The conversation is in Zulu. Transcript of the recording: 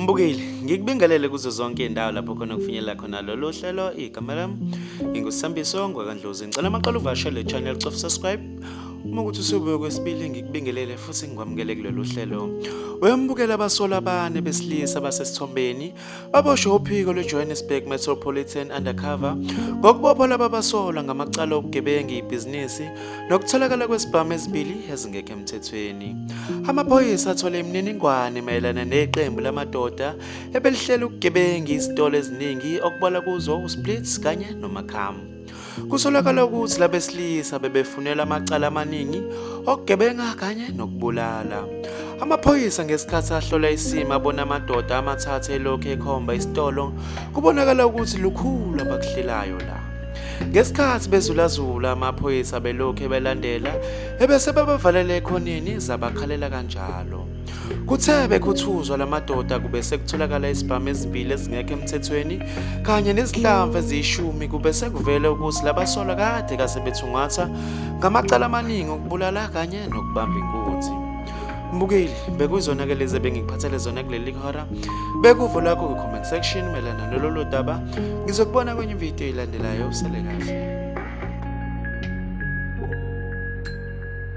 Mbukile, ngikubingelele kuzo zonke izindawo lapho khona kufinyelela khona lolu hlelo igama lami ngingusambiso ngwakandlozi ngicela amaqala uvashele le channel cof subscribe uma ukuthi usubuye kwesibili ngikubingelele futhi ngikwamukele kulolu hlelo wembukela abasola abane besilisa basesithombeni baboshwe uphiko lweJohannesburg Metropolitan Undercover ngokubopha laba basolwa ngamacala obugebengu ibhizinisi nokutholakala kwesibhamu ezibili ezingekho emthethweni. Amaphoyisa athole imininingwane mayelana neqembu lamadoda ebelihlela ukugebenga izitolo eziningi okubalwa kuzo uSplits kanye noMakhamu. Kusolakala ukuthi labesilisa bebefunela amacala amaningi okugebenga kanye nokubulala. Amaphoyisa ngesikhathi ahlola isimo abona amadoda amathathu elokhu ekhomba isitolo kubonakala ukuthi lukhulu abakuhlelayo la. Ngesikhathi bezulazula amaphoyisa belokhu ebelandela ebese bebavalele ekhoneni zabakhalela kanjalo. Kuthe bekhuthuzwa lamadoda kube sekutholakala izibhamu ezimbili ezingekho emthethweni kanye nezihlamvu eziyishumi kube sekuvele ukuthi labasolwa kade kase bethungatha ngamacala amaningi okubulala kanye nokubamba inkunzi. Mbukeli bekuyizona ke lezi ebengikuphathele zona kuleli hora bekuvo lakho kwi-comment section melana nololo daba ngizokubona kwenye ividiyo eyilandelayo usele kahle